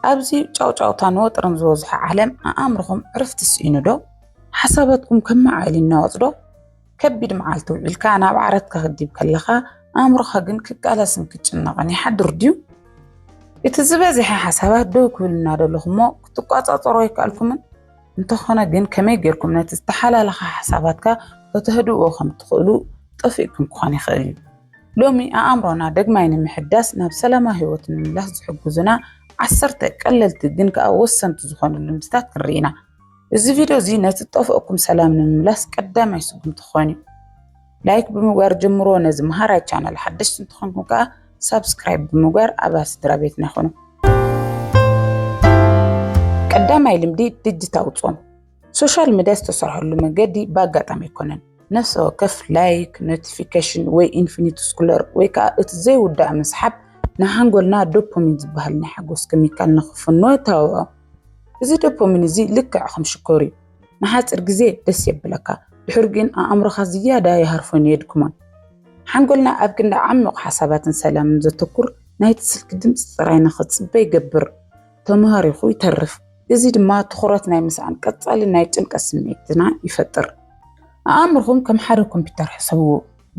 ኣብዚ ጫውጫውታን ወጥርን ዝበዝሖ ዓለም ኣእምርኹም ዕርፍቲ ስኢኑዶ? ሓሳባትኩም ከም መዓል ይናወጽዶ? ከቢድ መዓልቲ ውዒልካ ናብ ዓረት ከኽዲብ ከለኻ ኣእምሮኻ ግን ክቃለስን ክጭነቕን ይሓድር ድዩ? እቲ ዝበዝሐ ሓሳባት ደው ክብል እናደለኹሞ ክትቋጻጸሮ ኣይከኣልኩምን? እንተኾነ ግን ከመይ ጌርኩም ነቲ ዝተሓላለኸ ሓሳባትካ ከተህድእዎ ከም እትኽእሉ ጠፊእኩም ክኾን ይኽእል እዩ። ሎሚ ኣእምሮና ደግማይ ንምሕዳስ ናብ ሰላማዊ ህይወት ንምምላስ ዝሕግዙና ዓሰርተ ቀለልቲ ግን ከኣ ወሰንቲ ዝኾኑ ልምድታት ክንርኢ ኢና። እዚ ቪድዮ እዚ ነቲ ዝጠፍኦኩም ሰላም ንምምላስ ቀዳማይ ስጉምቲ ክኾን እዩ። ላይክ ብምግባር ጀምሮ ነዚ መሃራይ ቻናል ሓደሽቲ እንትኾንኩም ከዓ ሳብስክራይብ ብምግባር ኣባል ስድራ ቤትና ይኹኑ። ቀዳማይ ልምዲ ድጅታዊ ፆም። ሶሻል ሚዲያ ዝተሰርሐሉ መገዲ ብኣጋጣሚ ኣይኮነን። ነፍሰ ወከፍ ላይክ፣ ኖቲፊኬሽን ወይ ኢንፊኒቲ ስኩለር ወይ ከዓ እቲ ዘይውዳእ ምስሓብ ንሓንጎልና ዶፖሚን ዝበሃል ናይ ሓጎስ ኬሚካል ንክፍንዎ ተባብዖ። እዚ ዶፖሚን እዚ ልክዕ ከም ሽኮር እዩ። ንሓጽር ግዜ ደስ የብለካ ድሑር ግን ኣእምሮኻ ዝያዳ ይሃርፎን የድክሞን ሓንጎልና ኣብ ክንዲ ዓሚቕ ሓሳባትን ሰላምን ዘተኩር ናይቲ ስልኪ ድምፂ ጥራይ ንኽጽበ ይገብር ተማሃሪኹ ይተርፍ እዚ ድማ ትኹረት ናይ ምስኣን ቀጻሊ ናይ ጭንቀት ስምዒትና ይፈጥር ኣእምርኹም ከም ሓደ ኮምፒውተር ሕሰብዎ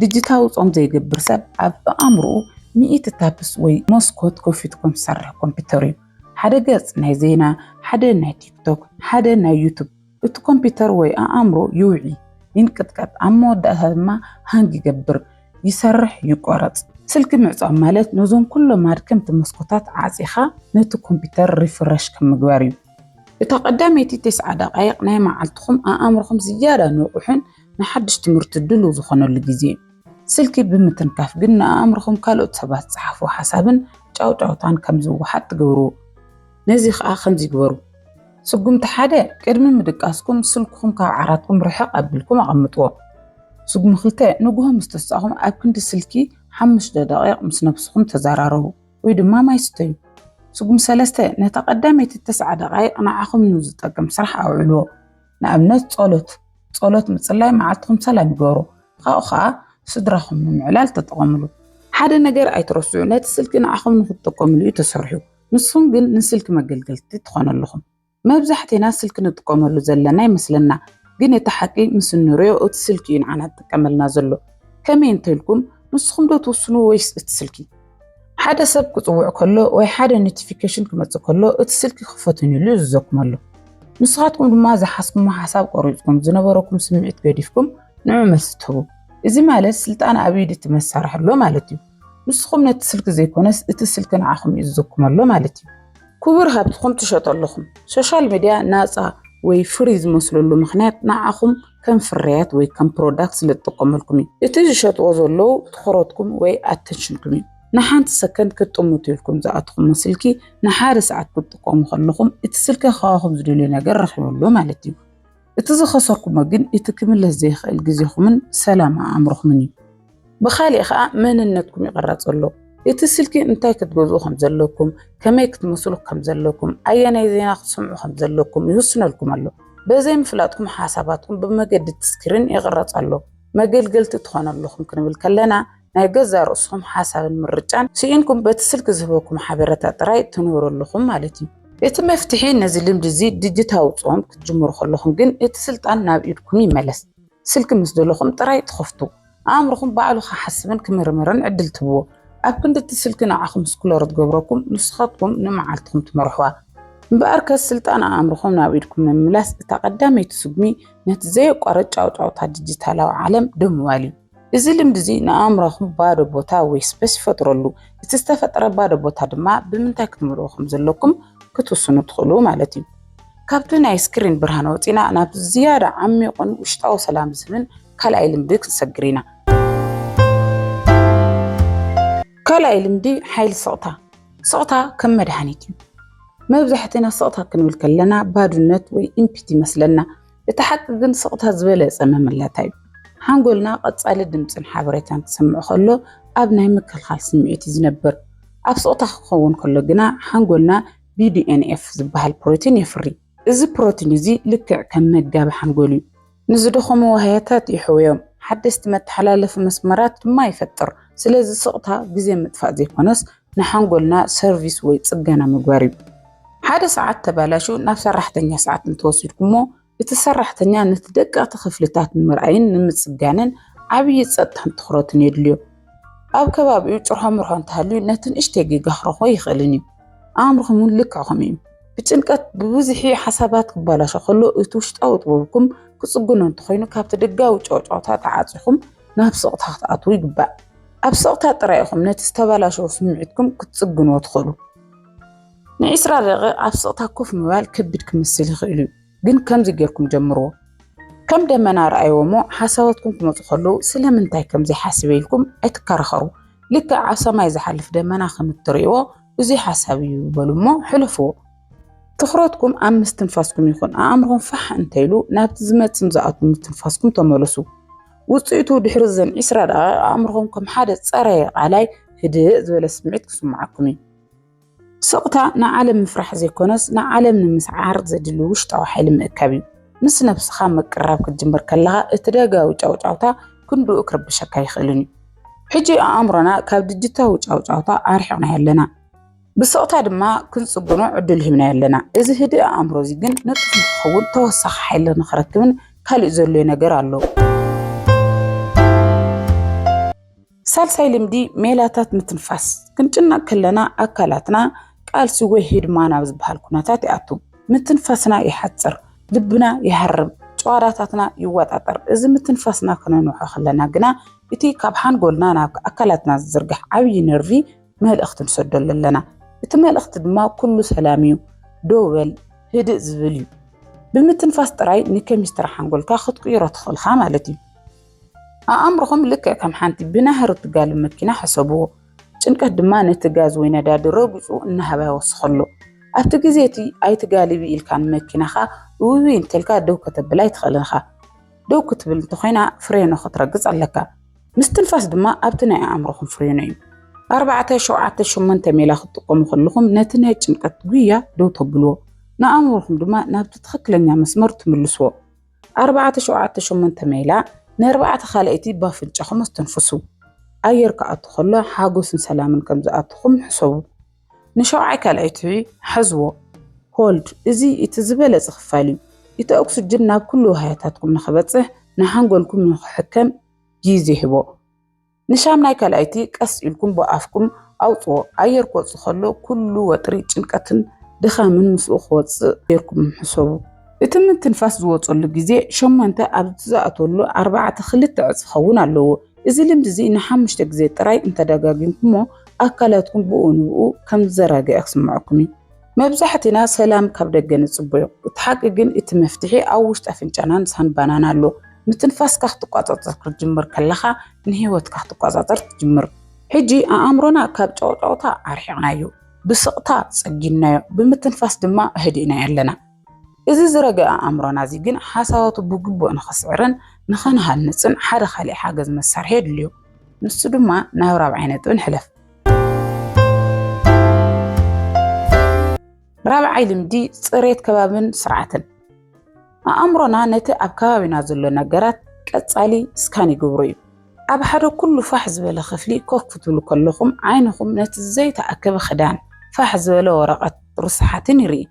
ድጅታዊ ጾም ዘይገብር ሰብ ኣብ ኣእምርኡ ሚእቲ ታፕስ ወይ መስኮት ከፊቱ ከም ዝሰርሕ ኮምፒውተር እዩ ሓደ ገጽ ናይ ዜና፣ ሓደ ናይ ቲክቶክ፣ ሓደ ናይ ዩቱብ፣ እቲ ኮምፒተር ወይ ኣኣምሮ ይውዒ፣ ይንቅጥቀጥ፣ ኣብ መወዳእታ ድማ ሃንግ ይገብር፣ ይሰርሕ፣ ይቆረጽ። ስልኪ ምዕጻው ማለት ነዞም ኩሎም ኣድከምቲ መስኮታት ዓጺኻ ነቲ ኮምፒተር ሪፍረሽ ከም ምግባር እዩ። እታ ቀዳመይቲ ተስዓ ደቓይቕ ናይ መዓልትኹም ኣኣምሮኹም ዝያዳ ንቑሕን ንሓድሽ ትምህርቲ ድሉው ዝኾነሉ ግዜ እዩ። ስልኪ ብምትንካፍ ግን ንኣእምሮኹም ካልኦት ሰባት ዝጸሓፍዎ ሓሳብን ጫውጫውታን ከም ዝወሓጥ ትገብርዎ። ነዚ ከኣ ከምዚ ግበሩ። ስጉምቲ ሓደ፣ ቅድሚ ምድቃስኩም ስልክኹም ካብ ዓራትኩም ርሕቕ ኣቢልኩም ኣቐምጥዎ። ስጉሚ ክልተ፣ ንግሆ ምስ ተሳእኹም ኣብ ክንዲ ስልኪ ሓሙሽተ ደቒቕ ምስ ነብስኹም ተዘራረቡ ወይ ድማ ማይ ስተዩ። ስጉሚ ሰለስተ፣ ነታ ቀዳመይቲ ተስዓ ደቓይቕ ንዓኹም ንዝጠቅም ስራሕ ኣውዕልዎ። ንኣብነት ጸሎት ጸሎት ምጽላይ መዓልትኹም ሰላም ይገሩ ካብኡ ከዓ ስድራኹም ንምዕላል ተጠቐምሉ ሓደ ነገር ኣይትረስዑ ነቲ ስልኪ ንዓኹም ንክትጠቀምሉ እዩ ተሰርሑ ንስኹም ግን ንስልኪ መገልገልቲ ትኾኑ ኣለኹም መብዛሕቴና ስልኪ ንጥቀመሉ ዘለና ይመስለና ግን እቲ ሓቂ ምስ እንሪኦ እቲ ስልኪ እዩ ንዓና ዝጥቀመልና ዘሎ ከመይ እንተልኩም ንስኹም ዶ ትውስኑ ወይስ እቲ ስልኪ ሓደ ሰብ ክጽውዕ ከሎ ወይ ሓደ ኖቲፊኬሽን ክመጽእ ከሎ እቲ ስልኪ ክፈቱን ኢሉ ይዝዘኩም ኣሎ። ንስኻትኩም ድማ ዝሓስኩሞ ሓሳብ ቆሪጽኩም ዝነበረኩም ስምዒት ገዲፍኩም ንዑ መልሲ ትህቡ እዚ ማለት ስልጣን ኣብ ኢድ እቲ መሳርሒ ኣሎ ማለት እዩ ንስኹም ነቲ ስልኪ ዘይኮነስ እቲ ስልኪ ንዓኹም ይእዘኩም ኣሎ ማለት እዩ ኩቡር ሃብትኹም ትሸጦ ኣለኹም። ሶሻል ሚድያ ናጻ ወይ ፍሪ ዝመስለሉ ምኽንያት ንዓኹም ከም ፍርያት ወይ ከም ፕሮዳክት ስለ ዝጥቀመልኩም እዩ። እቲ ዝሸጥዎ ዘለዉ ትኹረትኩም ወይ ኣተንሽንኩም እዩ። ንሓንቲ ሰከንድ ክትጥምቱ ኢልኩም ዝኣተኹሞ ስልኪ ንሓደ ሰዓት ክትጥቀሙ ከለኹም እቲ ስልኪ ካባኹም ዝደልዮ ነገር ረኺበሉ ማለት እዩ። እቲ ዝኸሰርኩሞ ግን እቲ ክምለስ ዘይክእል ግዜኹምን ሰላም ኣእምሮኹምን እዩ። ብኻሊእ ከኣ መንነትኩም ይቕረጽ ኣሎ። እቲ ስልኪ እንታይ ክትገዝኡ ከም ዘለኩም፣ ከመይ ክትመስሉ ከም ዘለኩም፣ ኣየናይ ዜና ክትሰምዑ ከም ዘለኩም ይውስነልኩም ኣሎ። በዘይ ምፍላጥኩም ሓሳባትኩም ብመገዲ እቲ ስክሪን ይቕረጽ ኣሎ። መገልገልቲ ትኾኑ ኣለኹም ክንብል ከለና ናይ ገዛእ ርእስኹም ሓሳብን ምርጫን ስኢንኩም በቲ ስልኪ ዝህበኩም ሓበረታ ጥራይ ትንበሩ ኣለኹም ማለት እዩ። እቲ መፍትሒ ነዚ ልምዲ እዚ ድጅታዊ ጾም ክትጅምሩ ከለኹም ግን እቲ ስልጣን ናብ ኢድኩም ይመለስ። ስልኪ ምስ ደለኹም ጥራይ ትኸፍቱ። ኣእምሮኹም ባዕሉ ክሓስብን ክምርምርን ዕድል ትህብዎ። ኣብ ክንዲ እቲ ስልኪ ንዓኹም ስክሎር ትገብረኩም ንስኻትኩም ንመዓልትኹም ትመርሕዋ። እምበኣርከስ ስልጣን ኣእምሮኹም ናብ ኢድኩም ንምምላስ እታ ቀዳመይቲ ስጉሚ ነቲ ዘየቋርጽ ጫውጫውታ ድጅታላዊ ዓለም ደው ምባል እዩ። እዚ ልምዲ እዚ ንኣእምሮኹም ባዶ ቦታ ወይ ስፐስ ይፈጥረሉ። እቲ ዝተፈጥረ ባዶ ቦታ ድማ ብምንታይ ክትመልኡ ከም ዘለኩም ክትውስኑ ትኽእሉ ማለት እዩ። ካብቲ ናይ ስክሪን ብርሃን ወፂና ናብ ዝያዳ ዓሚቑን ውሽጣዊ ሰላም ዝህብን ካልኣይ ልምዲ ክንሰግር ኢና። ካልኣይ ልምዲ ሓይሊ ስቕታ። ስቕታ ከም መድሃኒት እዩ። መብዛሕትና ስቕታ ክንብል ከለና ባዶነት ወይ ኢምፒቲ ይመስለና። እቲ ሓቂ ግን ስቕታ ዝበለጸ መመላእታ እዩ። ሓንጎልና ቀጻሊ ድምጽን ሓበሬታን ክሰምዕ ከሎ ኣብ ናይ ምክልኻል ስምዒት እዩ ዝነብር። ኣብ ስቕታ ክኸውን ከሎ ግና ሓንጎልና BDNF ዝበሃል ፕሮቲን የፍሪ። እዚ ፕሮቲን እዚ ልክዕ ከም መጋቢ ሓንጎል እዩ። ንዝደኸሙ ዋህያታት የሕውዮም፣ ሓደስቲ መተሓላለፊ መስመራት ድማ ይፈጥር። ስለዚ ስቕታ ግዜ ምጥፋእ ዘይኮነስ ንሓንጎልና ሰርቪስ ወይ ጽገና ምግባር እዩ። ሓደ ሰዓት ተባላሹ ናብ ሰራሕተኛ ሰዓት እንተወሲድኩሞ እቲ ሰራሕተኛ ነቲ ደቀቕቲ ክፍልታት ንምርኣይን ንምጽጋንን ዓብዪ ጸጥታን ትኹረትን የድልዮ። ኣብ ከባቢኡ ጭርሖ ምርሖ እንተሃልዩ ነቲ ንእሽተይ ጌጋ ክረኽቦ ኣይኽእልን እዩ። ኣእምሮኹም እውን ልክዕ ከምኡ እዩ። ብጭንቀት ብብዝሒ ሓሳባት ክባላሾ ከሎ እቲ ውሽጣዊ ጥበብኩም ክጽግኖ እንተኾይኑ ካብቲ ደጋዊ ጨውጨውታ ተዓጺኹም ናብ ስቕታ ክትኣትዉ ይግባእ። ኣብ ስቕታ ጥራይ ኢኹም ነቲ ዝተበላሸወ ስምዒትኩም ክትጽግንዎ ትኽእሉ። ንዒስራ ደቒቕ ኣብ ስቕታ ኮፍ ምባል ከቢድ ክመስል ይኽእል እዩ፣ ግን ከምዚ ጌርኩም ጀምርዎ። ከም ደመና ርኣይዎ እሞ ሓሳባትኩም ክመጹ ከለዉ ስለምንታይ ከም ዘይሓስበ ኢልኩም ኣይትከራኸሩ። ልክዕ ኣብ ሰማይ ዝሓልፍ ደመና ከም እትርእይዎ ብዙይ ሓሳብ እዩ በሉ እሞ ሕለፍዎ። ትኹረትኩም ኣብ ምስትንፋስኩም ይኹን፣ ኣእምሮኹም ፋሕ እንተ ኢሉ ናብቲ ዝመጽን ዝኣቱን ምስትንፋስኩም ተመለሱ። ውፅኢቱ ድሕሪ እዘን ዒስራ ደቓይቕ ኣእምሮኹም ከም ሓደ ፀረየ ቃላይ ህድእ ዝበለ ስምዒት ክስምዓኩም እዩ። ስቕታ ንዓለም ምፍራሕ ዘይኮነስ ንዓለም ንምስዓር ዘድሊ ውሽጣዊ ሓይሊ ምእካብ እዩ። ምስ ነብስኻ ምቅርራብ ክትጅምር ከለኻ እቲ ደጋዊ ጫውጫውታ ክንድኡ ክርብሸካ ኣይኽእልን እዩ። ሕጂ ኣእምሮና ካብ ድጅታዊ ጫውጫውታ ኣርሒቕናዮ ኣለና። ብስቕታ ድማ ክንጽግኖ ዕድል ሂብናዮ ኣለና። እዚ ህድእ ኣእምሮ'ዚ ግን ንጡፍ ንኽኸውን ተወሳኺ ሓይሊ ንኽረክብን ካልእ ዘድልዮ ነገር ኣሎ። ሳልሳይ ልምዲ ሜላታት ምትንፋስ፣ ክንጭነቕ ከለና ኣካላትና ቃልሲ ወይ ህድማ ናብ ዝበሃል ኩነታት ይኣቱ። ምትንፋስና ይሓጽር፣ ልብና ይሃርም፣ ጭዋዳታትና ይወጣጠር። እዚ ምትንፋስና ከነንውሖ ከለና ግና እቲ ካብ ሓንጎልና ናብ ኣካላትና ዝዝርጋሕ ዓብዪ ነርቪ መልእኽቲ ንሰደሉ ኣለና። እቲ መልእኽቲ ድማ ኩሉ ሰላም እዩ፣ ደው በል፣ ህድእ ዝብል እዩ። ብምትንፋስ ጥራይ ንኬሚስትሪ ሓንጎልካ ክትቅይሮ ትኽእልኻ ማለት እዩ። ኣእምሮኹም ልክዕ ከም ሓንቲ ብናህሪ እትጋሉ መኪና ሕሰብዎ። ጭንቀት ድማ ነቲ ጋዝ ወይ ነዳዲ ረጊጹ እናሃባ ይወስኸሉ። ኣብቲ ግዜ እቲ ኣይትጋልቢ ኢልካ ንመኪናኻ እውይ እንተልካ ደው ከተብላ ኣይትኽእልን ኢኻ። ደው ክትብል እንተኾይና ፍሬኖ ክትረግጽ ኣለካ። ምስትንፋስ ድማ ኣብቲ ናይ ኣእምሮኹም ፍሬኑ እዩ። ኣርባዕተ፣ ሸውዓተ፣ ሸሞንተ ሜላ ክትጥቀሙ ከለኹም ነቲ ናይ ጭንቀት ጉያ ደው ተብልዎ፣ ንኣእምሮኹም ድማ ናብቲ ትኽክለኛ መስመር ትምልስዎ። ኣርባዕተ፣ ሸውዓተ፣ ሸሞንተ ሜላ ንኣርባዕተ ካልኣይቲ ብኣፍንጫኹም ኣስተንፍሱ። ኣየር ክኣቱ ከሎ ሓጎስን ሰላምን ከም ዝኣትኹም ሕሰቡ። ንሸውዓይ ካልኣይቲ ሓዝዎ፣ ሆልድ፣ እዚ እቲ ዝበለጸ ክፋል እዩ። እቲ ኦክስጅን ናብ ኩሉ ዋህያታትኩም ንኽበጽሕ፣ ንሓንጎልኩም ንኽሕከም፣ ጊዜ ህቦ። ንሻምናይ ካልኣይቲ ቀስ ኢልኩም ብኣፍኩም ኣውጽዎ። ኣየር ክወጽእ ከሎ ኩሉ ወጥሪ፣ ጭንቀትን ድኻምን ምስኡ ክወጽእ ጌርኩም ሕሰቡ። እቲ ምትንፋስ ዝወጸሉ ግዜ ሸሞንተ ኣብ ዝኣትወሉ ኣርባዕተ ክልተ ዕጽ ክኸውን ኣለዎ። እዚ ልምዲ እዚ ንሓሙሽተ ግዜ ጥራይ እንተደጋጊምኩሞ ኣካላትኩም ብኡ ንብኡ ከም ዝዘራገዐ ክስምዓኩም እዩ። መብዛሕቲና ሰላም ካብ ደገ ንጽበዮ፣ እቲ ሓቂ ግን እቲ መፍትሒ ኣብ ውሽጢ ኣፍንጫናን ሳንባናን ኣሎ። ምትንፋስካ ክትቆጻጸር ክትጅምር ከለኻ ንህይወትካ ክትቆጻጸር ትጅምር። ሕጂ ኣእምሮና ካብ ጫውጫውታ ኣርሒቕናዮ፣ ብስቕታ ጸጊንናዮ፣ ብምትንፋስ ድማ ኣህዲእናዮ ኣለና። እዚ ዝረገኣ ኣእምሮና እዚ ግን ሓሳባቱ ብግቡእ ንኽስዕርን ንኽንሃንጽን ሓደ ካልእ ሓገዝ መሳርሒ የድልዮ። ንሱ ድማ ናብ ራብዓይ ነጥቢ ንሕለፍ። ራብዓይ ልምዲ ፅሬት ከባብን ስርዓትን ኣእምሮና ነቲ ኣብ ከባቢና ዘሎ ነገራት ቀጻሊ ስካን ይገብሮ እዩ። ኣብ ሓደ ኩሉ ፋሕ ዝበለ ክፍሊ ኮፍ ክትብሉ ከለኹም ዓይንኹም ነቲ ዘይተኣከበ ክዳን፣ ፋሕ ዝበለ ወረቐት፣ ርስሓትን ይርኢ።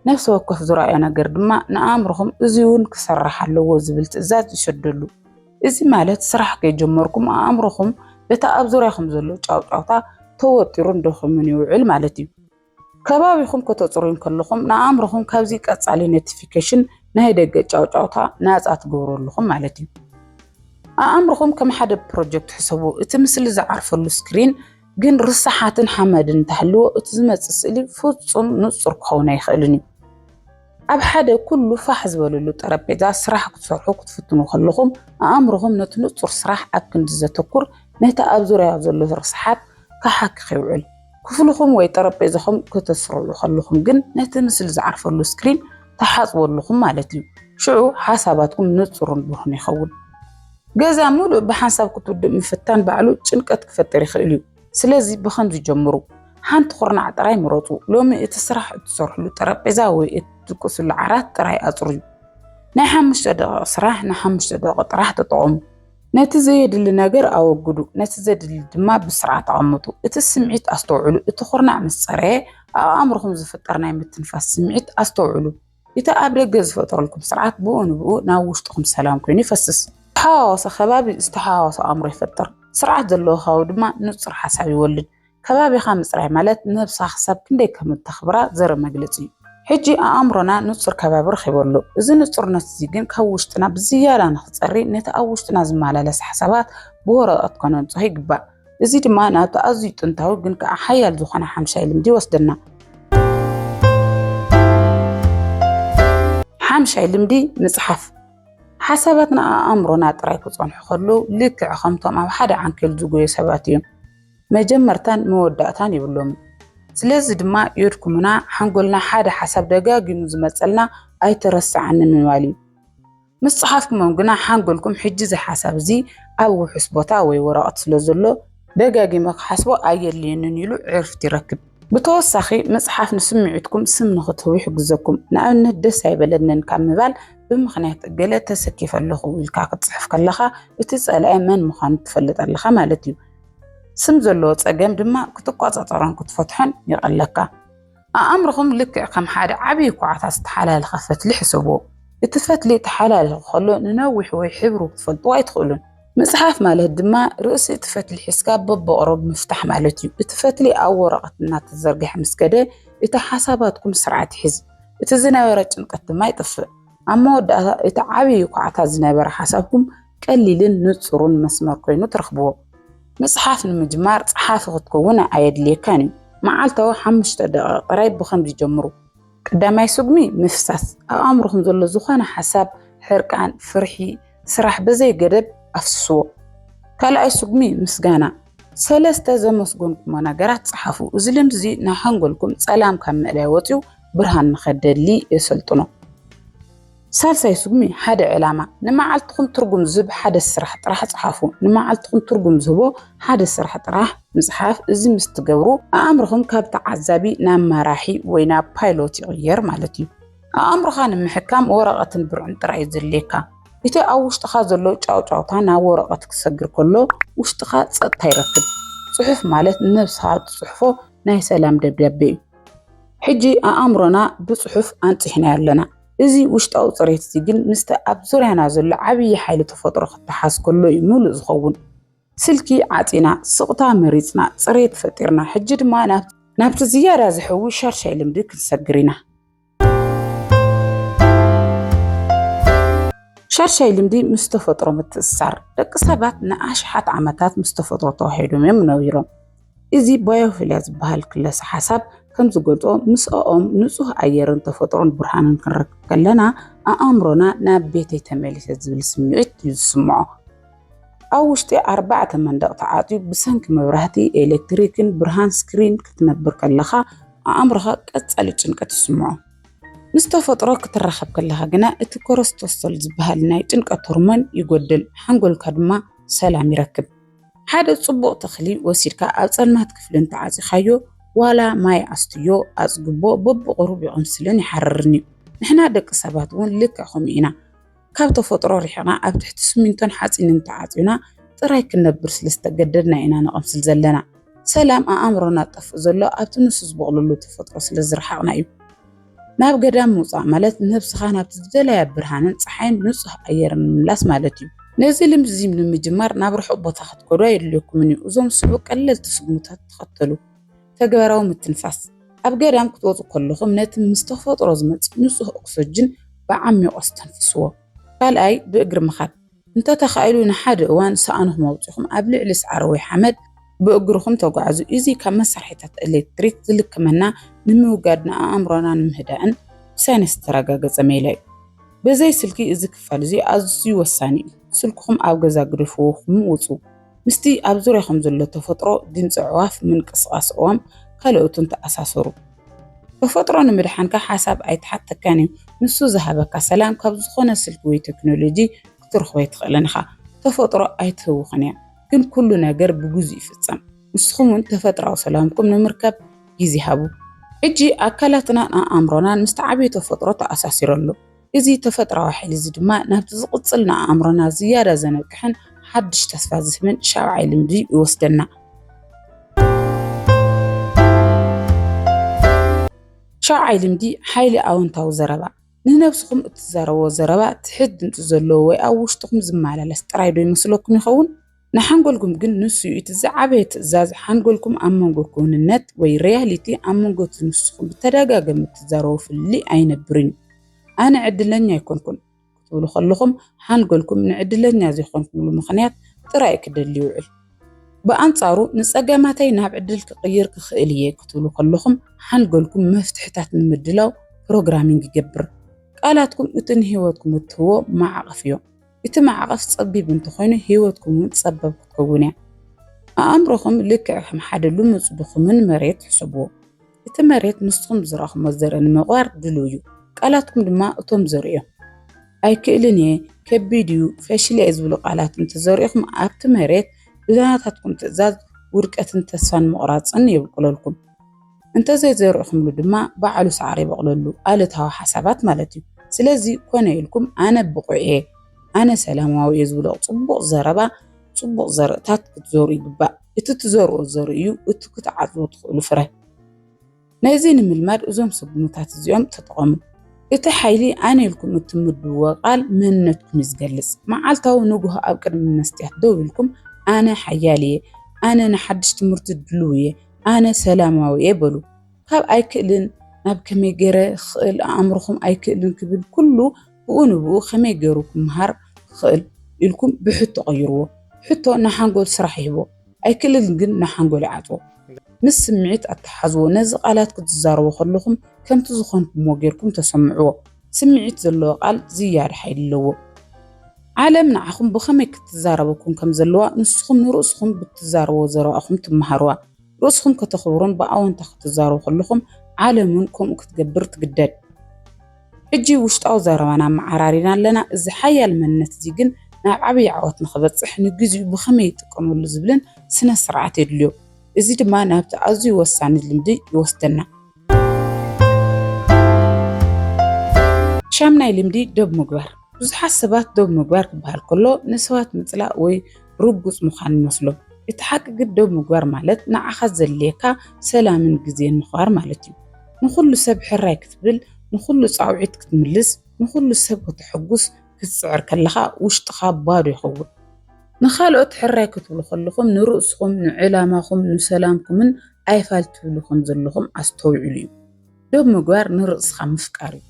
ነፍሲ ወከፍ ዝረኣዮ ነገር ድማ ንኣእምሮኹም እዚ እውን ክሰራሕ ኣለዎ ዝብል ትእዛዝ ይሰደሉ። እዚ ማለት ስራሕ ከይጀመርኩም ኣእምሮኹም በቲ ኣብ ዙርያኹም ዘሎ ጫውጫውታ ተወጢሩን ደኺሙን ይውዕል ማለት እዩ። ከባቢኹም ከተጽሩዩ ከለኹም ንኣእምሮኹም ካብዚ ቀጻሊ ኖቲፊኬሽን ናይ ደገ ጫውጫውታ ናጻ ትገብሩ ኣለኹም ማለት እዩ። ኣእምሮኹም ከም ሓደ ፕሮጀክት ሕሰቡ። እቲ ምስሊ ዝዓርፈሉ ስክሪን ግን ርስሓትን ሓመድን እንተሃልዎ እቲ ዝመጽእ ስእሊ ፍጹም ንጹር ክኸውን ኣይኽእልን እዩ። ኣብ ሓደ ኩሉ ፋሕ ዝበለሉ ጠረጴዛ ስራሕ ክትሰርሑ ክትፍትኑ ከለኹም፣ ኣእምሮኹም ነቲ ንጹር ስራሕ ኣብ ክንዲ ዘተኩር፣ ነቲ ኣብ ዙርያ ዘሎ ርስሓት ክሓክኽ ይውዕል። ክፍልኹም ወይ ጠረጴዛኹም ከተስርዑ ከለኹም ግን፣ ነቲ ምስሊ ዝዓርፈሉ ስክሪን ትሓጽቡ ኣለኹም ማለት እዩ። ሽዑ ሓሳባትኩም ንጹርን ብሩህን ይኸውን። ገዛ ምሉእ ብሓንሳብ ክትውድእ ምፍታን ባዕሉ ጭንቀት ክፈጥር ይኽእል እዩ። ስለዚ ብኸምዚ ጀምሩ። ሓንቲ ኩርናዕ ጥራይ ምረጹ። ሎሚ እቲ ስራሕ እትሰርሕሉ ጠረጴዛ ወይ እትድቅስሉ ዓራት ጥራይ ኣጽርዩ። ናይ ሓሙሽተ ደቒቕ ስራሕ ንሓሙሽተ ደቒቕ ጥራሕ ተጠቐሙ። ነቲ ዘየድሊ ነገር ኣወግዱ፣ ነቲ ዘድሊ ድማ ብስርዓት ኣቐምጡ። እቲ ስምዒት ኣስተውዕሉ። እቲ ኩርናዕ ምስ ጸረየ ኣብ ኣእምሮኹም ዝፍጠር ናይ ምትንፋስ ስምዒት ኣስተውዕሉ። እቲ ኣብ ደገ ዝፈጠረልኩም ስርዓት ብኡ ንብኡ ናብ ውሽጥኹም ሰላም ኮይኑ ይፈስስ። ዝተሓዋወሰ ከባቢ ዝተሓዋወሰ ኣእምሮ ይፈጥር። ስርዓት ዘለዎ ከባቢ ድማ ንጹር ሓሳብ ይወልድ። ከባቢኻ ምጽራይ ማለት ነብሳ ክሳብ ክንደይ ከም እተኽብራ ዘርኢ መግለጺ እዩ። ሕጂ ኣእምሮና ንጹር ከባቢ ረኺቡ ኣሎ። እዚ ንጹርነት እዚ ግን ካብ ውሽጥና ብዝያዳ ንኽጸሪ ነቲ ኣብ ውሽጥና ዝመላለስ ሓሳባት ብወረቐት ከነንጽሆ ይግባእ። እዚ ድማ ናብቲ ኣዝዩ ጥንታዊ ግን ከዓ ሓያል ዝኾነ ሓምሻይ ልምዲ ይወስደና። ሓምሻይ ልምዲ ምጽሓፍ ሓሳባትና ኣእምሮና ጥራይ ክጸንሑ ከለዉ ልክዕ ከምቶም ኣብ ሓደ ዓንኬል ዝጎዩ ሰባት እዮም መጀመርታን መወዳእታን ይብሎምን ስለዚ ድማ ዮድኩምና ሓንጎልና ሓደ ሓሳብ ደጋጊሙ ዝመጸልና ኣይተረስዓኒ ምባል እዩ ምስ ጸሓፍኩሞም ግና ሓንጎልኩም ሕጂ እዚ ሓሳብ እዚ ኣብ ውሑስ ቦታ ወይ ወረቐት ስለ ዘሎ ደጋጊመ ክሓስቦ ኣየድልየንን ኢሉ ዕርፍቲ ይረክብ። ብተወሳኺ ምጽሓፍ ንስምዒትኩም ስም ንክትህቡ ይሕግዘኩም። ንኣብነት ደስ ኣይበለንን ካብ ምባል ብምኽንያት እገለ ተሰኪፈ ኣለኹ ኢልካ ክትጽሕፍ ከለኻ እቲ ጸላኢ መን ምዃኑ ትፈልጥ ኣለኻ ማለት እዩ። ስም ዘለዎ ጸገም ድማ ክትቆጻጸሮን ክትፈትሖን ይቐለካ። ኣእምሮኹም ልክዕ ከም ሓደ ዓብዪ ኳዕታ ዝተሓላለኸ ፈትሊ ሕሰብዎ። እቲ ፈትሊ ተሓላሊኹ ከሎ ንነዊሑ ወይ ሕብሩ ክትፈልጥዎ ኣይትኽእሉን። ምጽሓፍ ማለት ድማ ርእሲ እቲ ፈትሊ ሒዝካ በብቕረቡ ምፍታሕ ማለት እዩ። እቲ ፈትሊ ኣብ ወረቐት እናተዘርግሐ ምስ ከደ እቲ ሓሳባትኩም ስርዓት ይሕዝ፣ እቲ ዝነበረ ጭንቀት ድማ ይጥፍእ። ኣብ መወዳእታ እቲ ዓብዪ ኳዕታ ዝነበረ ሓሳብኩም ቀሊልን ንጹሩን መስመር ኮይኑ ትረኽብዎ። ምጽሓፍ ንምጅማር ጸሓፊ ክትከውን ኣየድልየካን እዩ። መዓልታዊ ሓሙሽተ ደቒቕ ጥራይ ብኸምዚ ጀምሩ። ቀዳማይ ስጉሚ ምፍሳስ፣ ኣብ ኣእምሮኹም ዘሎ ዝኾነ ሓሳብ፣ ሕርቃን፣ ፍርሒ፣ ስራሕ ብዘይ ገደብ ኣፍስስዎ። ካልኣይ ስጉሚ ምስጋና፣ ሰለስተ ዘመስገንኩሞ ነገራት ጸሓፉ። እዚ ልምዲ'ዚ ንሓንጎልኩም ጸላም ካብ ምእላይ ወጺኡ ብርሃን ንኸደሊ የሰልጥኖ። ሳልሳይ ስጉሚ ሓደ ዕላማ ንመዓልትኹም ትርጉም ዝህብ ሓደ ስራሕ ጥራሕ ፀሓፉ። ንመዓልትኹም ትርጉም ዝህቦ ሓደ ስራሕ ጥራሕ ምፅሓፍ እዚ ምስ ትገብሩ ኣእምሮኹም ካብ ተዓዛቢ ናብ መራሒ ወይ ናብ ፓይሎት ይቕየር ማለት እዩ። ኣእምሮኻ ንምሕካም ወረቐትን ብርዕን ጥራይ እዩ ዘድልየካ። እቲ ኣብ ውሽጥኻ ዘሎ ጫውጫውታ ናብ ወረቐት ክሰግር ከሎ ውሽጥኻ ፀጥታ ይረክብ። ፅሑፍ ማለት ንነብስኻ እትፅሕፎ ናይ ሰላም ደብዳቤ እዩ። ሕጂ ኣእምሮና ብፅሑፍ ኣንፂሕናዮ ኣለና። እዚ ውሽጣዊ ጽሬት እዚ ግን ምስቲ ኣብ ዙርያና ዘሎ ዓብዪ ሓይሊ ተፈጥሮ ክተሓዝ ከሎ እዩ ምሉእ ዝኸውን። ስልኪ ዓጺና፣ ስቕታ መሪጽና፣ ጽሬት ፈጢርና፣ ሕጂ ድማ ናብ ናብቲ ዝያዳ ዝሕዊ ሻድሻይ ልምዲ ክንሰግር ኢና። ሻድሻይ ልምዲ ምስ ተፈጥሮ ምትእስሳር። ደቂ ሰባት ንኣሽሓት ዓመታት ምስ ተፈጥሮ ተዋሒዶም እዮም ነቢሮም። እዚ ባዮፊልያ ዝበሃል ክለሰ ሓሳብ ከም ዝገልጾ ምስኦም ንጹህ ኣየርን ተፈጥሮን ብርሃንን ክንረክብ ከለና ኣእምሮና ናብ ቤተይ ተመሊሰ ዝብል ስምዒት እዩ ዝስምዖ። ኣብ ውሽጢ ኣርባዕተ መንደቕ ተዓጽዩ ብሰንኪ መብራህቲ፣ ኤሌክትሪክን ብርሃን ስክሪን ክትነብር ከለኻ ኣእምሮኻ ቀጻሊ ጭንቀት ይስምዖ። ምስ ተፈጥሮ ክትራኸብ ከለኻ ግና እቲ ኮረስቶሶል ዝበሃል ናይ ጭንቀት ሆርሞን ይጎድል፣ ሓንጎልካ ድማ ሰላም ይረክብ። ሓደ ጽቡቕ ተኽሊ ወሲድካ ኣብ ጸልማት ክፍሊ እንተዓጺኻዮ ዋላ ማይ ኣስትዮ ኣጽግቦ በብቑሩብ ይቕምስልን ይሓርርን እዩ። ንሕና ደቂ ሰባት እውን ልክዕ ከምኡ ኢና። ካብ ተፈጥሮ ርሒቕና ኣብ ትሕቲ ስሚንቶን ሓጺንን ተዓጽዩና ጥራይ ክንነብር ስለ ዝተገደድና ኢና ንቐምስል ዘለና። ሰላም ኣኣምሮና ዝጠፍእ ዘሎ ኣብቲ ንሱ ዝቦቕለሉ ተፈጥሮ ስለ ዝረሓቕና እዩ። ናብ ገዳም ምውፃእ ማለት ነብስኻ ናብቲ ዝደለያ ብርሃንን ፀሓይን ንፁህ ኣየርን ምምላስ ማለት እዩ። ነዚ ልምዲ እዚ ንምጅማር ናብ ርሑቕ ቦታ ክትከዱ ኣየድልየኩምን እዩ። እዞም ዝስዕቡ ቀለልቲ ስጉምትታት ተኸተሉ። ተግባራዊ ምትንፋስ፣ ኣብ ገዳም ክትወፁ ከለኹም ነቲ ምስ ተፈጥሮ ዝመፅእ ንፁህ ኦክሰጅን ብዓሚቑ ኣስተንፍስዎ። ካልኣይ፣ ብእግሪ ምኻድ። እንተ ተኻኢሉ ንሓደ እዋን ሰኣንኹም ኣውጺኹም ኣብ ልዕሊ ሳዕሪ ወይ ሓመድ ብእግርኹም ተጓዓዙ። እዚ ካብ መሳርሒታት ኤሌክትሪክ ዝልክመና ንምውጋድን ኣእምሮና ንምህዳእን ብሳይንስ ዝተረጋገጸ ሜላ እዩ። ብዘይ ስልኪ እዚ ክፋል እዚ ኣዝዩ ወሳኒ እዩ። ስልክኹም ኣብ ገዛ ግደፍዎ ኹም ውጹ። ምስቲ ኣብ ዙርያኹም ዘሎ ተፈጥሮ፣ ድምፂ ኣዕዋፍ፣ ምንቅስቓስ ኦዋም ካልኦትን ተኣሳሰሩ። ተፈጥሮ ንምድሓንካ ሓሳብ ኣይተሓተካን እዩ፣ ንሱ ዝሃበካ ሰላም ካብ ዝኾነ ስልኪ ወይ ቴክኖሎጂ ክትረኽቦ ኣይትኽእልን ኢኻ። ተፈጥሮ ኣይትህውኽን እያ፣ ግን ኩሉ ነገር ብግዚኡ ይፍፀም። ንስኹም እውን ተፈጥራዊ ሰላምኩም ንምርካብ ግዜ ሃቡ። ሕጂ ኣካላትናን ኣኣምሮናን ምስቲ ዓብዪ ተፈጥሮ ተኣሳሲሩ ኣሎ። እዚ ተፈጥሮኣዊ ሓይሊ እዚ ድማ ናብቲ ዝቕጽል ንኣእምሮና ዝያዳ ዘነቅሕን ሓድሽ ተስፋ ዝህብን ሻብዓይ ልምዲ ይወስደና። ሻብዓይ ልምዲ ሓይሊ ኣወንታዊ ዘረባ ንነብስኹም እትዛረብዎ ዘረባ ትሕት ድምፂ ዘለዎ ወይ ኣብ ውሽጥኹም ዝመላለስ ጥራይ ዶ ይመስለኩም ይኸውን? ንሓንጎልኩም ግን ንሱ እዩ እቲ ዝዓበየ ትእዛዝ፣ ሓንጎልኩም ኣብ መንጎ ክውንነት ወይ ሪያሊቲ ኣብ መንጎ እቲ ንስኹም ብተደጋገሚ እትዛረቦ ፍልልይ ኣይነብርን እዩ። ኣነ ዕድለኛ ኣይኮንኩን ክትብሉ ከለኹም ሓንጎልኩም ንዕድለኛ ዘይኮንኩምሉ ምኽንያት ጥራይ እዩ ክደሊ ይውዕል። ብኣንጻሩ ንጸገማተይ ናብ ዕድል ክቕይር ክኽእል እየ ክትብሉ ከለኹም ሓንጎልኩም መፍትሕታት ንምድላው ፕሮግራሚንግ ይገብር። ቃላትኩም እቲ ንህይወትኩም እትህቦ ማዕቕፍ እዮም። እቲ ማዕቐፍ ጸቢብ እንተኾይኑ ህይወትኩም እውን ጸበብ ክትከውን እያ። ኣእምሮኹም ልክዕ ከም ሓደ ልሙጽ ድኹምን መሬት ሕሰብዎ። እቲ መሬት ንስኹም ብዝረኣኹሞ ዘርኢ ንምቕባር ድሉው እዩ፣ ቃላትኩም ድማ እቶም ዘርኢ እዮም። ኣይክእልን እየ፣ ከቢድ እዩ፣ ፈሽለ እየ ዝብሉ ቃላት እንተዘሪእኹም ኣብቲ መሬት ብናታትኩም ትእዛዝ ውድቀትን ተስፋን ምቑራጽን የብቁለልኩም። እንተዘይዘሪእኹምሉ ድማ ባዕሉ ሳዕሪ ይበቑለሉ፣ ኣሉታዊ ሓሳባት ማለት እዩ። ስለዚ ኮነ ኢልኩም ኣነ ብቑዕ እየ፣ ኣነ ሰላማዊ እየ ዝብሎ ፅቡቕ ዘረባ፣ ፅቡቕ ዘርእታት ክትዘርኡ ይግባእ። እቲ ትዘርእዎ ዘርኢ እዩ እቲ ክትዓፅድዎ ትኽእሉ ፍረ። ነዚ ንምልማድ እዞም ስጉምታት እዚኦም ተጠቐሙ። እቲ ሓይሊ ኣነ ኢልኩም እትምድብዎ ቃል መንነትኩም እዩ ዝገልፅ። መዓልታዊ ንጉሆ ኣብ ቅድሚ መስትያት ደው ኢልኩም ኣነ ሓያል እየ፣ ኣነ ንሓድሽ ትምህርቲ ድሉው እየ፣ ኣነ ሰላማዊ'የ በሉ። ካብ ኣይክእልን ናብ ከመይ ገይረ ክኽእል ኣእምሮኹም ኣይክእልን ክብል ኩሉ ብኡ ንብኡ ከመይ ገይሩ ክመሃር ክኽእል ኢልኩም ብሕቶ ቀይርዎ። ሕቶ ንሓንጎል ስራሕ ይህቦ፣ ኣይክእልን ግን ንሓንጎል ይዓጽዎ። ምስ ስምዒት ኣተሓሓዝዎ፣ ነዚ ቃላት ክትዛረቡ ከለኹም ከምቲ ዝኾንኩምዎ ገይርኩም ተሰምዕዎ። ስምዒት ዘለዎ ቃል ዝያዳ ሓይሊ ኣለዎ። ዓለም ንዓኹም ብኸመይ ክትዛረበኩም ከም ዘለዋ ንስኹም ንርእስኹም ብትዛረብዎ ዘረባ ኢኹም ትመሃርዋ። ርእስኹም ከተኽብሩን ብኣወንታ ክትዛረቡ ከለኹም ዓለም እውን ከምኡ ክትገብር ትግደድ። ሕጂ ውሽጣዊ ዘረባና ኣመዓራሪና ኣለና፣ እዚ ሓያል መንነት እዚ ግን ናብ ዓብዪ ዓወት ንኽበጽሕ ንግዜኡ ብኸመይ ይጥቀመሉ ዝብልን ስነ-ስርዓት የድልዮ። እዚ ድማ ናብቲ ኣዝዩ ወሳኒ ልምዲ ይወስደና። ሻምናይ ልምዲ ዶብ ምግባር ብዙሓት ሰባት ዶብ ምግባር ክበሃል ከሎ ንሰባት ምፅላእ ወይ ርጉፅ ምዃን ይመስሎም። እቲ ሓቂ ግን ዶብ ምግባር ማለት ንዓኻ ዘድልየካ ሰላምን ግዜን ምኽባር ማለት እዩ። ንኹሉ ሰብ ሕራይ ክትብል፣ ንኹሉ ፃውዒት ክትምልስ፣ ንኹሉ ሰብ ከተሐጉስ ክትፅዕር ከለኻ ውሽጥኻ ባዶ ይኸውን። ንኻልኦት ሕራይ ክትብሉ ከለኹም ንርእስኹም፣ ንዕላማኹም፣ ንሰላምኩምን ኣይፋል ትብሉ ከም ዘለኹም ኣስተውዕሉ እዩ። ዶብ ምግባር ንርእስኻ ምፍቃር እዩ።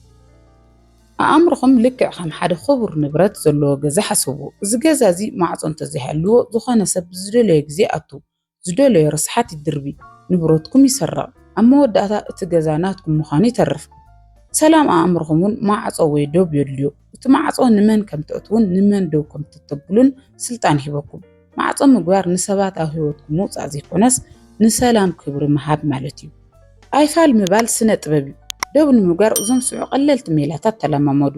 ኣእምሮኹም ልክዕ ከም ሓደ ክቡር ንብረት ዘለዎ ገዛ ሓስብዎ። እዚ ገዛ እዚ ማዕጾ እንተዘይሃልዎ ዝኾነ ሰብ ብዝደለዮ ግዜ ይኣቱ፣ ዝደለዮ ርስሓት ይድርቢ፣ ንብረትኩም ይስረቕ፣ ኣብ መወዳእታ እቲ ገዛ ናትኩም ምዃኑ ይተርፍ። ሰላም ኣእምሮኹም እውን ማዕጾ ወይ ዶብ የድልዮ። እቲ ማዕጾ ንመን ከም ትእትዉን ንመን ደው ከም ትተብሉን ስልጣን ሂበኩም። ማዕጾ ምግባር ንሰባት ኣብ ህይወትኩም ምውጻእ ዘይኮነስ ንሰላም ክብሪ ምሃብ ማለት እዩ። ኣይፋል ምባል ስነ ጥበብ እዩ። ደው ንምግባር እዞም ዝስዕቡ ቀለልቲ ሜላታት ተለማመዱ።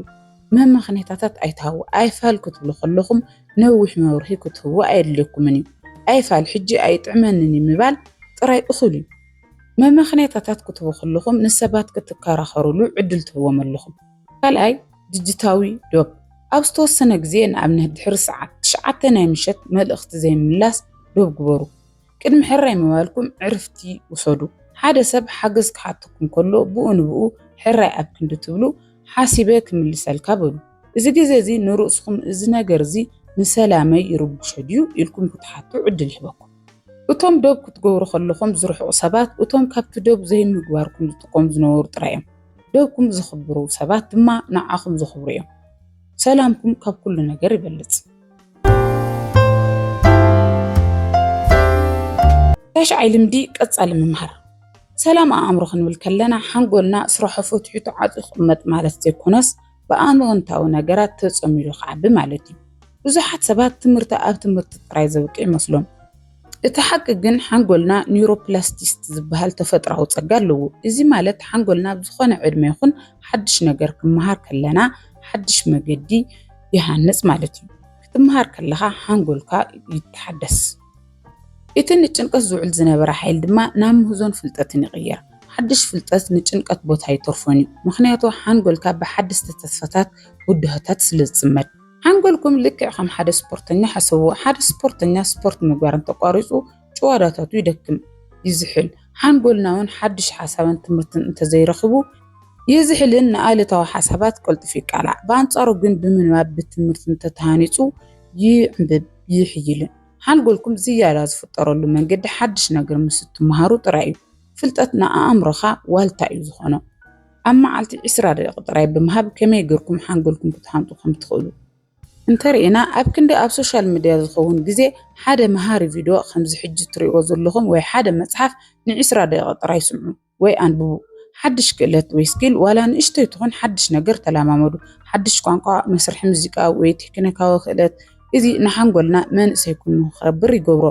መመኽነይታታት ኣይትሃቡ። ኣይፋል ክትብሉ ከለኹም ነዊሕ መብርሂ ክትህቡ ኣየድልየኩምን እዩ። ኣይፋል ሕጂ ኣይጥዕመንን እዩ ምባል ጥራይ እኹል እዩ። መመኽነይታታት ክትህቡ ከለኹም ንሰባት ክትከራኸሩሉ ዕድል ትህብዎም ኣለኹም። ካልኣይ ድጅታዊ ዶብ ኣብ ዝተወሰነ ግዜ ንኣብነት ድሕሪ ሰዓት ትሽዓተ ናይ ምሸት መልእኽቲ ዘይምምላስ ዶብ ግበሩ። ቅድሚ ሕራይ ምባልኩም ዕርፍቲ ውሰዱ። ሓደ ሰብ ሓገዝ ክሓተኩም ከሎ ብኡ ንብኡ ሕራይ ኣብ ክንዲ ትብሉ ሓሲበ ክምልሰልካ በሉ። እዚ ግዜ እዚ ንርእስኹም እዚ ነገር እዚ ንሰላመይ ይርብሾ ድዩ ኢልኩም ክትሓቱ ዕድል ይህበኩም። እቶም ዶብ ክትገብሩ ከለኹም ዝርሕቁ ሰባት እቶም ካብቲ ዶብ ዘይምግባርኩም ዝጥቀሙ ዝነበሩ ጥራይ እዮም። ደኩም ዝኽብሩ ሰባት ድማ ንዓኹም ዝኽብሩ እዮም። ሰላምኩም ካብ ኩሉ ነገር ይበልጽ። ታሽዓይ ልምዲ ቀጻሊ ምምሃር ሰላም ኣእምሮ ክንብል ከለና ሓንጎልና ስራሖ ፈትሑ ተዓጽዩ ክቕመጥ ማለት ዘይኮነስ ብኣንወንታዊ ነገራት ተጸም ኢሉ ክዓቢ ማለት እዩ። ብዙሓት ሰባት ትምህርቲ ኣብ ትምህርቲ ጥራይ ዘብቂ ይመስሎም። እቲ ሓቂ ግን ሓንጎልና ኒውሮፕላስቲስቲ ዝበሃል ተፈጥራዊ ጸጋ ኣለዎ። እዚ ማለት ሓንጎልና ኣብ ዝኾነ ዕድመ ይኹን ሓድሽ ነገር ክመሃር ከለና ሓድሽ መገዲ ይሃንጽ ማለት እዩ። ክትመሃር ከለኻ ሓንጎልካ ይተሓደስ። እቲ ንጭንቀት ዝውዕል ዝነበረ ሓይል ድማ ናብ ምህዞን ፍልጠትን ይቕየር። ሓድሽ ፍልጠት ንጭንቀት ቦታ ኣይተርፎን እዩ፣ ምኽንያቱ ሓንጎልካ ብሓደስቲ ተስፋታት ብድሆታት ስለ ዝጽመድ። ሓንጎልኩም ልክዕ ከም ሓደ ስፖርተኛ ሓሰብዎ፣ ሓደ ስፖርተኛ ስፖርት ምግባር እንተቋሪጹ ጭዋዳታቱ ይደክም፣ ይዝሕል፣ ሓንጎልናውን ሓድሽ ሓሳብን ትምህርትን እንተዘይረኺቡ፣ ይዝሕልን ንኣሉታዊ ሓሳባት ቀልጡፉ ይቃላዕ፣ ብኣንጻሩ ግን ብምንባብ ብትምህርትን ተተሃኒጹ ይዕምብብ። ይሕይልን። ሓንጎልኩም ዝያዳ ዝፍጠረሉ መንገዲ ሓድሽ ነገር ምስ እትመሃሩ ጥራይ እዩ። ፍልጠት ንኣእምሮኻ ዋልታ እዩ ዝኾኖ። ኣብ መዓልቲ ዕስራ ደቂቕ ጥራይ ብምሃብ ከመይ ገርኩም ሓንጎልኩም ክትሃንጡ ከም ትኽእሉ እንተርኢና፣ ኣብ ክንዲ ኣብ ሶሻል ምድያ ዝኸውን ግዜ ሓደ መሃሪ ቪድዮ ከምዚ ሕጂ እትርእይዎ ዘለኹም ወይ ሓደ መጽሓፍ ንዕስራ ደቂቕ ጥራይ ስምዑ። ወይ ኣንብቡ። ሓድሽ ክእለት ወይ ስኪል ዋላ ንእሽቶይ ትኹን ሓድሽ ነገር ተላማመዱ። ሓድሽ ቋንቋ፣ መስርሒ ሙዚቃ ወይ ቴክኒካዊ ክእለት፣ እዚ ንሓንጎልና መንእሰይ ኩኑ ንክኸብር ይገብሮ።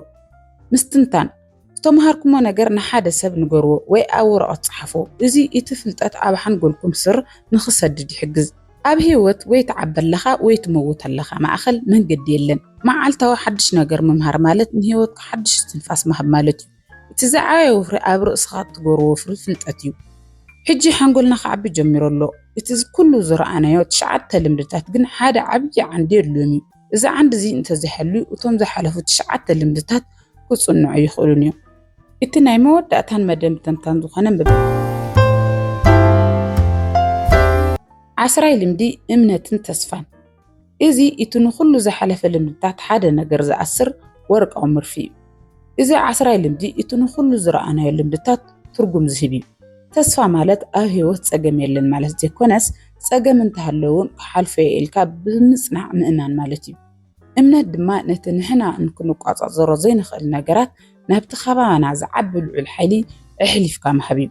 ምስትንታን፣ ዝተመሃርኩሞ ነገር ንሓደ ሰብ ንገርዎ ወይ ኣብ ወረቐት ጽሓፉ። እዚ እቲ ፍልጠት ኣብ ሓንጎልኩም ስር ንክሰድድ ይሕግዝ። ኣብ ህይወት ወይ ትዓቢ ኣለኻ ወይ ትመውት ኣለኻ ማእከል መንገዲ የለን። መዓልታዊ ሓድሽ ነገር ምምሃር ማለት ንህይወትካ ሓድሽ እስትንፋስ ምሃብ ማለት'ዩ። እቲ ዝዓበየ ወፍሪ ኣብ ርእስኻ እትገብሮ ወፍሪ ፍልጠት እዩ። ሕጂ ሓንጎልና ክዓቢ ጀሚሩ ኣሎ፣ እቲ ኩሉ ዝረኣናዮ ትሽዓተ ልምድታት ግን ሓደ ዓብዪ ዓንዲ የድልዮም እዩ። እዚ ዓንዲ እዚ እንተዘይሃልዩ እቶም ዝሓለፉ ትሽዓተ ልምድታት ክጽንዑ ኣይኽእሉን እዮም። እቲ ናይ መወዳእታን መደምደምታን ዝኾነ ዓስራይ ልምዲ እምነትን ተስፋን። እዚ እቲ ንኹሉ ዝሓለፈ ልምድታት ሓደ ነገር ዝኣስር ወርቃዊ ምርፊ እዩ። እዚ ዓስራይ ልምዲ እቲ ንኹሉ ዝረኣናዮ ልምድታት ትርጉም ዝህብ እዩ። ተስፋ ማለት ኣብ ህይወት ጸገም የለን ማለት ዘይኮነስ ጸገም እንተሃለወ እውን ክሓልፎ እየ ኢልካ ብምጽናዕ ምእማን ማለት እዩ። እምነት ድማ ነቲ ንሕና እንክንቋጻጸሮ ዘይንኽእል ነገራት ናብቲ ከባና ዝዓቢ ልዑል ሓይሊ ኣሕሊፍካ ምሃብ እዩ።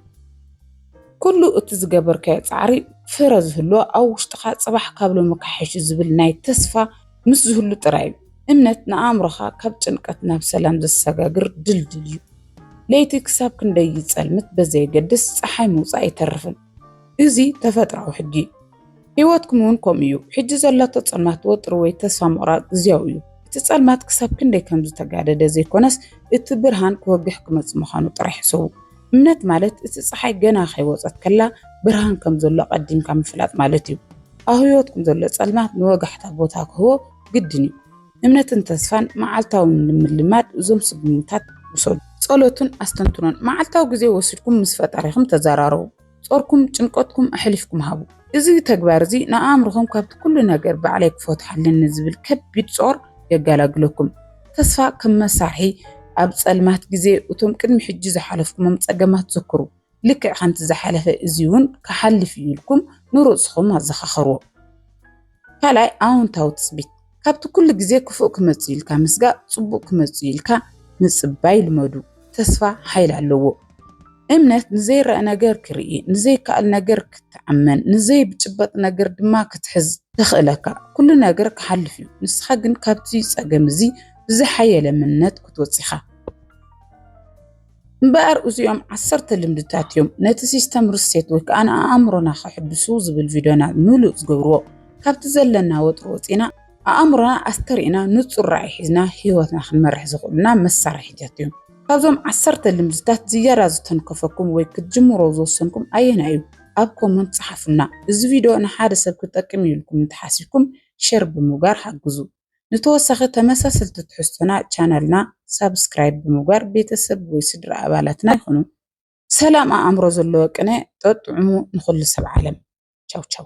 ኩሉ እቲ ዝገበርካዮ ጻዕሪ ፍረ ዝህሎ ኣብ ውሽጥኻ ጽባሕ ካብ ሎሚ ክሓይሹ ዝብል ናይ ተስፋ ምስ ዝህሉ ጥራይ እዩ። እምነት ንኣእምሮኻ ካብ ጭንቀት ናብ ሰላም ዘሰጋግር ድልድል እዩ። ለይቲ ክሳብ ክንደይ ይጸልምት በዘየገድስ ጸሓይ ምውጻእ ኣይተርፍን። እዚ ተፈጥራዊ ሕጊ እዩ። ህይወትኩም እውን ከምኡ እዩ። ሕጂ ዘሎ ተጸማት ወጥሪ ወይ ተስፋ ምቑራጽ ግዜያዊ እዩ። እቲ ጸልማት ክሳብ ክንደይ ከም ዝተጋደደ ዘይኮነስ፣ እቲ ብርሃን ክወግሕ ክመጽእ ምዃኑ ጥራይ ሕሰቡ። እምነት ማለት እቲ ጸሓይ ገና ከይወጸት ከላ ብርሃን ከም ዘሎ ኣቐዲምካ ምፍላጥ ማለት እዩ። ኣብ ህይወትኩም ዘሎ ጸልማት ንወጋሕታ ቦታ ክህቦ ግድን እዩ። እምነትን ተስፋን መዓልታዊ ንምልማድ እዞም ስጉምታት ውሰዱ። ጸሎትን ኣስተንትኖን፣ መዓልታዊ ግዜ ወሲድኩም ምስ ፈጣሪኹም ተዘራረቡ። ጾርኩም፣ ጭንቀትኩም ኣሕሊፍኩም ሃቡ። እዚ ተግባር እዚ ንኣእምሮኹም ካብቲ ኩሉ ነገር ባዕለይ ክፈትሖ ኣለኒ ዝብል ከቢድ ጾር የጋላግለኩም። ተስፋ ከም መሳርሒ ኣብ ጸልማት ግዜ እቶም ቅድሚ ሕጂ ዝሓለፍኩሞም ጸገማት ዘክሩ። ልክዕ ከምቲ ዝሓለፈ እዚ እውን ክሓልፍ እዩ ኢልኩም ንርእስኹም ኣዘኻኽርዎ። ካልኣይ ኣውንታዊ ትፅቢት ካብቲ ኩሉ ግዜ ክፉእ ክመጽእ ኢልካ ምስጋእ ጽቡቅ ክመጽእ ኢልካ ምጽባይ ልመዱ ተስፋ ሓይል ኣለዎ እምነት ንዘይረአ ነገር ክርኢ ንዘይከኣል ነገር ክትኣመን ንዘይብጭበጥ ነገር ድማ ክትሕዝ ተኽእለካ ኩሉ ነገር ክሓልፍ እዩ ንስኻ ግን ካብቲ ጸገም እዚ ብዝሓየለ እምነት ክትወጽኻ እምበኣር እዚኦም ዓሰርተ ልምድታት እዮም ነቲ ሲስተም ርሴት ወይ ከዓ ንኣእምሮና ከሕድሱ ዝብል ቪድዮና ምሉእ ዝገብርዎ ካብቲ ዘለና ወጥሪ ወፂና ኣእምሮና ኣስተሪእና ንፁር ራእይ ሒዝና ህይወትና ክንመርሕ ዝኽእሉና መሳርሒታት እዮም ካብዞም ዓሰርተ ልምድታት ዝያዳ ዝተንከፈኩም ወይ ክትጅምሮ ዝወሰንኩም ኣየና እዩ ኣብ ኮመንት ፀሓፉልና እዚ ቪድዮ ንሓደ ሰብ ክጠቅም ኢልኩም እንተሓሲብኩም ሸር ብምግባር ሓግዙ ንተወሳኺ ተመሳሰልቲ ትሕዝቶና ቻናልና ሳብስክራይብ ብምግባር ቤተሰብ ወይ ስድራ ኣባላትና ይኹኑ። ሰላም ኣእምሮ ዘለዎ ቅነ ጠጥዑሙ ንኹሉ ሰብ ዓለም። ቻው ቻው።